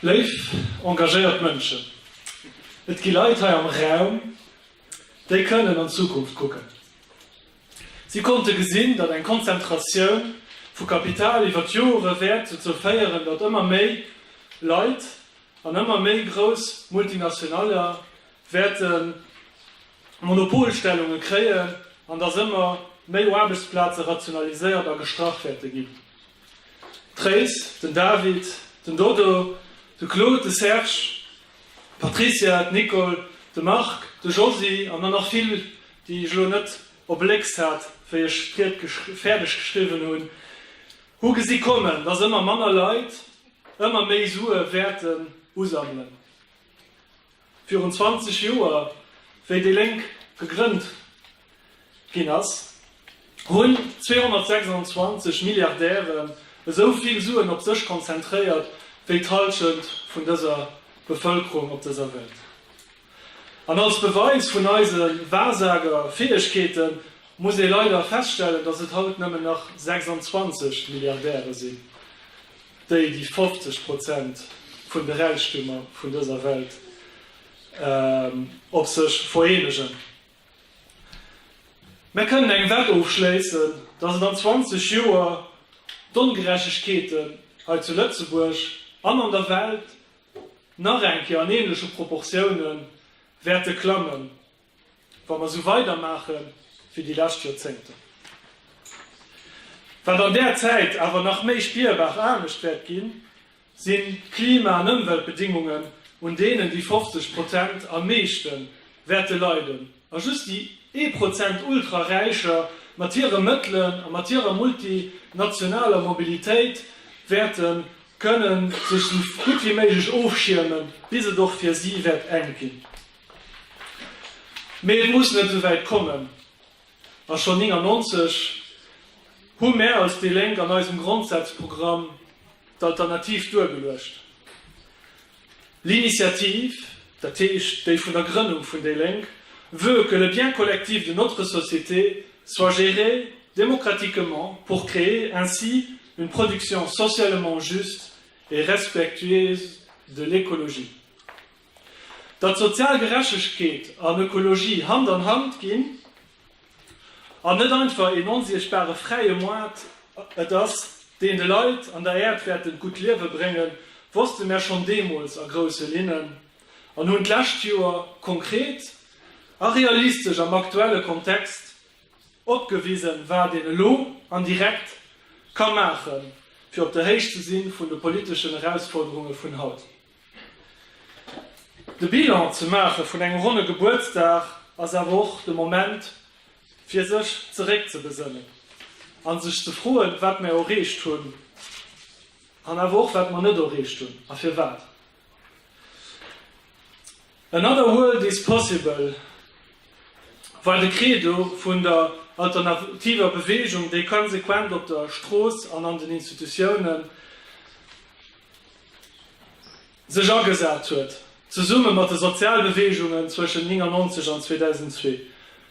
Léif engagéiert Mënschen, et gi Leit hei am Raum, déi kënnen an d'Zukunft kucken. Si konnte gesinn, datt eng Konzentratioun vu Kapital iwwer d'Joere wäert dozou féieren, datt ëmmer méi Leit an ëmmer méi grouss Multinationale wäerte Monopolstellunge kréien an datt ëmmer méi Aarbechtsplaze rationaliséiert a gestrach wäerte ginn. D'Tréis, den David, den Dodo, de Claude, de Serge, d'Patricia, d'Nicole, de Marc, de Josy an der nach vill, déi ech elo net op Lécks hat, wéi ech d'Ried fäerdeg geschriwwen hunn, hu gesi kommen, dass ëmmer manner Leit ëmmer méi Sue wäerten usammelen. Virun 20 Joer, wéi déi Lénk gegrënnt ginn ass, hunn 226 Milliardären esou vill Suen op sech konzentréiert, wéi d'Hallschent vun dëser Bevëlkerung op dëser Welt. An als Beweis vun eise Wahrsagerfäegkeete muss ee leider feststellen, dass et haut nëmmen nach 26 Milliardäre sinn. déi déi 50 Prozent vun de Räichtumer vun dëser Welt op sech vereenegen. Mär kënnen eng Wett ofschléissen, datt et an 20 Joer d'Ongerechtegkeeten hei zu Lëtzebuerg an an der Welt nach eng Kéier an ähnleche Proportiounen wäerte klammen. wa mer esou weidermaache wéi déi lescht Joerzéngten. Wat an där Zäit awer nach méi spierbar anescht wäert ginn, si Klima an Ëmweltbedingungen, un deenen déi 50 Prozent am meeschte wäerte leiden a just déi ee Prozent Ultra-Räicher mat hire Mëttelen a mat hirer multinationaler Mobilitéit wäerte kënnen sech esou gutt wéi méiglech ofschiermen, bis et och fir si wäert enk ginn. Mee et muss net esou wäit kommen, a schonn 99 hu mär als déi Lénk an eisem Grondsazprogramm d'Alternativ duergeluecht, L'initiative, dat heescht déi vun der Grënnung vun déi Lénk, veut que le bien collectif de notre société soit géré démocratiquement pour créer ainsi une production socialement juste et respectueuse de l'écologie. Datt sozial Gerechtegkeet an Ökologie Hand an Hand ginn an net einfach een onsiechtbare fräie Moart et ass, deen de Leit an der Äerd wäert en gutt Liewe bréngen, wosste mär schonn deemools a grousse Linnen an hunn d'lescht Joer konkret a realistesch am aktuelle Kontext opgewisen, wat een elo an direkt ka maachen, fir op der Héicht ze si vun de politeschen Erausforderunge vun haut. De Bilan ze maache vun engem ronne Gebuertsdag ass awer och de Moment, fir sech zeréckzebesënnen a sech ze froen, wat mer erreecht hunn an awer och, wat mer net erreecht hunn a firwat. Another world is possible war de Credo vun der alternativer Beweegung, déi konsequent op der Strooss an an den Institutiounen sech agesat huet, zesumme mat de Sozialbeweegungen zwëschen 99 an 2002,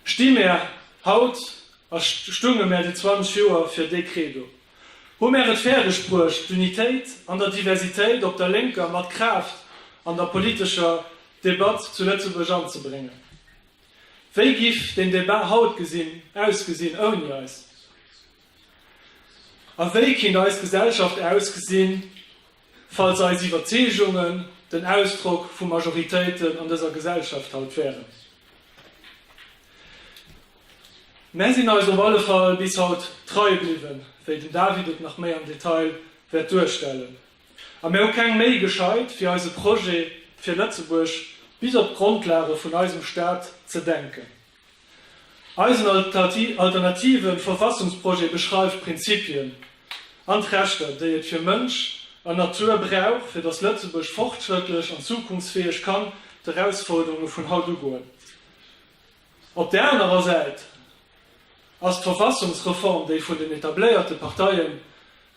sti mär haut, a stunge mär déi 20 Joer, fir dee Credo. Hu mär et fäerdeg bruecht, d'Unitéit an der Diversitéit op der Lénker mat Kraaft an der politescher Debatt zu Lëtzebuerg anzebréngen? Wéi giff den Débat haut gesinn, ausgesinn ouni eis? A wéi kinnt eis Gesellschaft ausgesinn, falls eis Iwwerzeegungen den Ausdrock vu Majoritéiten an dëser Gesellschaft haut wären? Mär sinn eis op alle Fall bis haut trei bliwwen, wéi den David et nach méi am Detail wäert duerstellen. A mär hu keng Méi gescheit, fir eise Projet fir Lëtzebuerg bis op d'Grondlage vun eisem Staat ze denken. Eisen alternative Verfassungsprojet beschreift d'Prinzipien an d'Rechter, déi et fir Mënsch an Natur brauch, fir datt Lëtzebuerg fortschrëttlech an zukunftsfäeg kann d'Erausforderunge vun haut ugoen. Op där anerer Säit ass d'Verfassungsreform, déi vun den etabléierte Parteie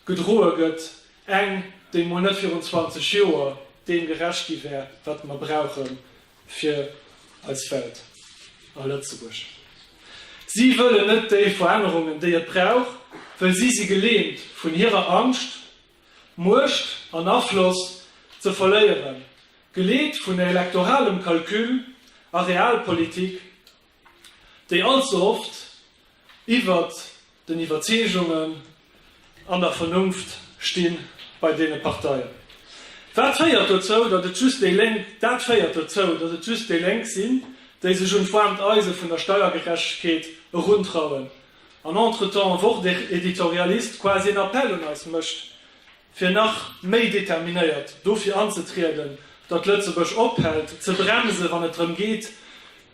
gedroe gëtt, eng, déi mol net virun 20 Joer deem gerecht gi wär, wat mer brauche Fir eis Welt a Lëtzebuerg. Si wëllen net déi Verännerungen, déi et brauch, well si si geleemt vun hirer Angscht, Muecht an Afloss ze verléieren, geleet vun elektoralem Calcul a Realpolitik déi allze oft iwwert den Iwwerzeegungen an der Vernunft sti bei deene Parteien. Wat féiert dozou, datt et just déi Lénk, dat féiert dozou, datt et just déi Lénk sinn, déi sech un d'woarmt Eise vun der Steiergerechtegkeet eruntrauen an entretemps en Wort-Editorialist quasi en Appel un eis mécht, fir nach méi determinéiert dofir anzetrieden, datt Lëtzebuerg ophält ze bremsen, wann et drëm geet,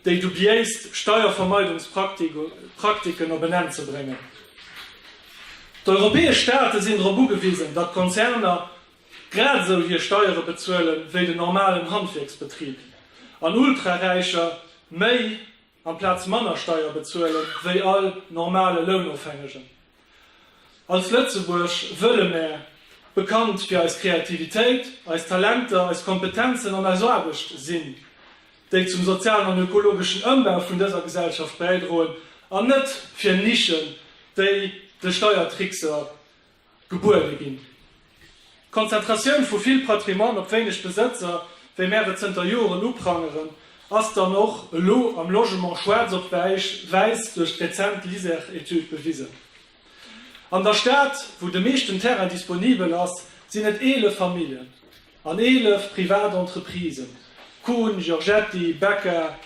déi dubiéist Steiervermeidungspraktiken op en Enn ze bréngen. D'europäesch Staate sinn drop ugewisen, datt d'Konzerner grad esou hir Steiere bezuelen, wéi den normalen Handwierksbetrib an Ultraräicher méi. amplaz manner Steier bezuelen wéi all normale Lounofhängegen. Als Lëtzebuerg wëlle mär, bekannt fir eis Kreativitéit, eis Talenter, eis Kompetenzen an eis Aarbecht sinn, déi zum sozialen an ökologeschen Ëmbau vun dëser Gesellschaft bäidroen, an net fir Nischen, déi de Steiertrickser Gebuede ginn. D'Konzentratioun vu vill Patrimoine op wéineg Besëtzer, wéi mär et zënter Joren uprangeren, ass dann och elo am Logement schwaarz op wäiss duerch d'rezent Liser-Etude bewisen. An der Stad, wou de meeschten Terrain disponibel ass, sinn et 11 Familljen an 11 privat Entreprisen, Kuhn, Giorgetti, Becker,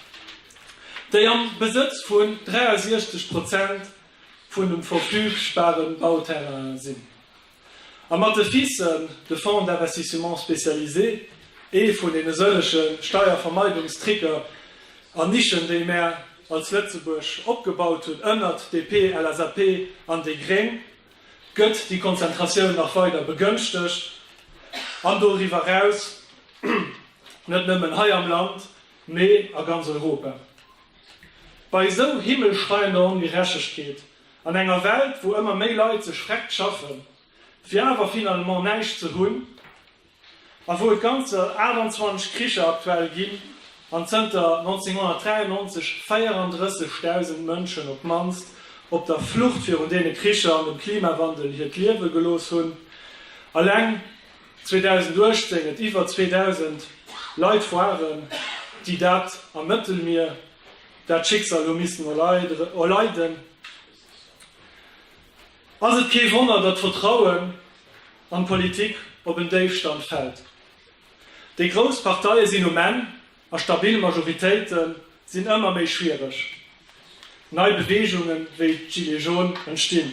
déi am Besëtz vun 63 Prozent vun dem verfügbaren Bauterrain sinn, a mat de FISen, de Fonds d'investissements spécialisés, ee vun deene sëllege Steiervermeidungstricker an Nischen, déi mär als Lëtzebuerg opgebaut hunn ënnert DP, LSAP an déi Gréng, gëtt déi Konzentratioun nach weider begënschtegt an doriwwer eraus, net nëmmen hei am Land, mee a ganz Europa. Bei esou himmelschreiender Ongerechtegkeet, an enger Welt wou ëmmer méi Leit sech vreckt schaffen fir awer finalement näischt ze hunn, a wou et ganzer 28 Kricher aktuell ginn, an zënter 1993 34.000 Mënschen op d'mannst op der Flucht virun deene Kricher an dem Klimawandel hiert Liewe gelooss hunn, eleng 2018 et iwwer 2.000 Leit waren, déi dat am Mëttelmier dat Schicksal hu missen erleiden, ass et kee Wonner, datt d'Vertrauen an d'Politik op en Déifstand fält. Déi grouss Parteie sinn um Enn a stabil Majoritéite sinn ëmmer méi schwiereg. Nei Beweegunge wéi d'Gilets jaunes entstinn.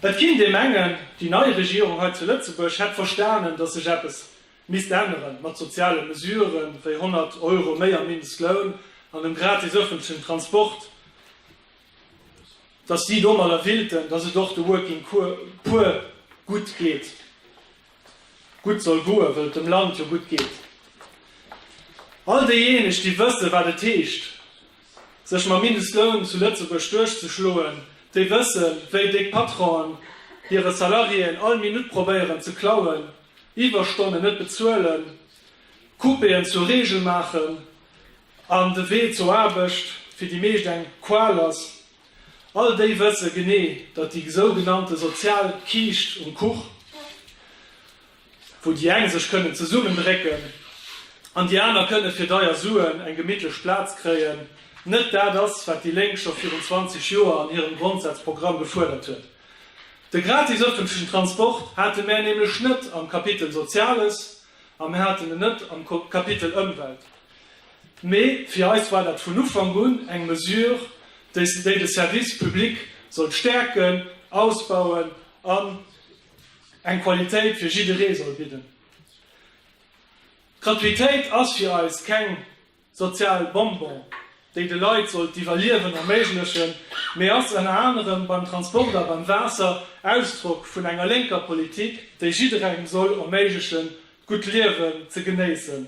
Et ginn, déi mengen, déi nei Regierung hei zu Lëtzebuerg hätt verstanen, datt sech eppes misst änneren, mat soziale Mesüre wéi 100 Euro méi am Mindestloun an dem gratis ëffentlechen Transport, datt si domadder willten, datt et och de Working Poor gutt geet. gutt soll goen, wëll et dem Land jo gutt geet. All déijéineg, déi wësse wat et heescht, sech mam Mindestloun zu Lëtzebuerg duerchzeschloen, déi wësse wéi déck Patronen hire Salariéen all Minutt probéieren ze klauen, Iwwerstonnen net bezuelen, Coupéen zur Reegel maachen an de Wee zur Aarbecht fir déi meescht eng Qual ass, All déi wësse genee, datt déi sougenannte sozial Kiischt um Kuch, wou déi eng sech kënnen zesummendrécken an déi aner kënne fir deier Suen eng gemittlech Plaz kréien, net dat ass, wat déi Lénk scho virun 20 Joer an hirem Grondsazprogramm gefuerdert huet. De gratis ëffentlechen Transport hate mär nämlech net am Kapitel Soziales a mär haten en net am Kapitel Ëmwelt. Mee fir eis war dat vun Ufank un eng Mesure, déi de Service public sollt stäerken, ausbauen an eng Qualitéit fir jidderee soll bidden. D'Gratuitéit ass fir eis keng sozial Bonbon, déi de Leit soll d'Iwwerliewen erméiglechen, mee ass ënner anerem beim Transport a beim Waasser Ausdrock vun enger lénker Politik, déi jidderengem soll erméiglechen, d'gutt Liewen ze genéissen.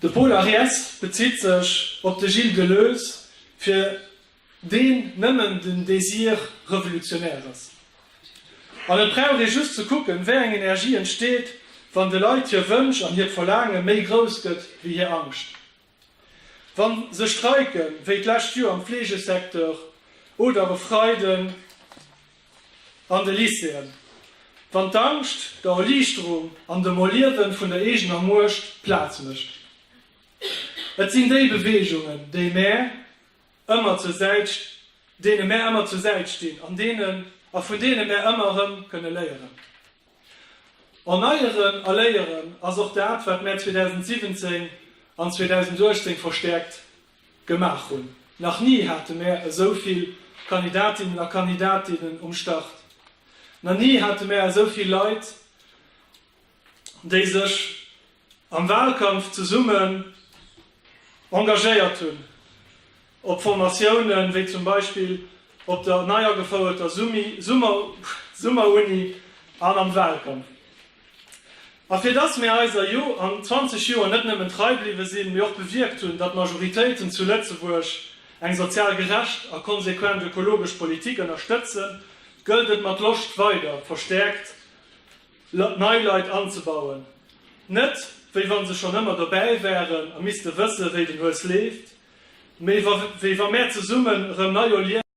De Pol Ariès bezitt sech op de Gilles Deleuze, fir deen nëmmen den Désir revolutionär ass. An et brauch ee just ze kucken, wéi eng Energie entsteet, wann de Leit hir Wënsch an hiert Verlaange méi grouss gëtt wéi hir Angscht. Wann se streiken, wéi d'lescht Joer am Fleegesecteur oder e Freiden an de Lycéeën, wann d'Angscht der Erliichterung an dem Erliewen vun der eegener Muecht Plaz mécht, et sinn déi Beweegungen, déi mär ëmmer zur Säit, deene mär ëmmer zur Säit stinn an deenen a vun deene mär ëmmer erëm kënne léieren. Erneieren a Léieren ass och dat, wat mär 2017 an 2018 verstäerkt gemaach hunn. Nach ni hate mär esou vill Kandidatinnen a Kandidatinnen um Start. Na ni hate mär esou vill Leit, déi sech am Wahlkampf zesummen engagéiert hunn. Op Formatiounen, wéi zum Beispill op der nei agefouerter Summeruni an am Wahlkampf. A fir dass mir eiser Jo an 20 Joer net nëmmen trei bliwwe sinn, mee och bewierkt hunn, datt Majoritéiten zu Lëtzebuerg eng sozial gerecht a konsequent ökologesch Politik ënnerstëtzen, gëllt et mat Loscht weider verstäerkt nei Leit anzebauen. Net wéi wann se schonn ëmmer dobäi wären a misste wësse wéi den Hues leeft, Méi wéi wa mär zesummen erëm nei erliewen,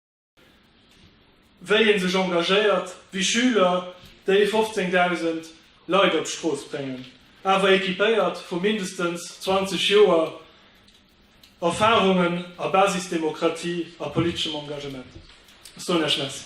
wéi ee sech engagéiert, wéi Schüler déi 15.000 Leit op d'Strooss bréngen, awer equipéiert vu mindestens 20 Joer Erfarungen a Basisdemokratie a politeschem Engagement. Ech soen Iech Merci.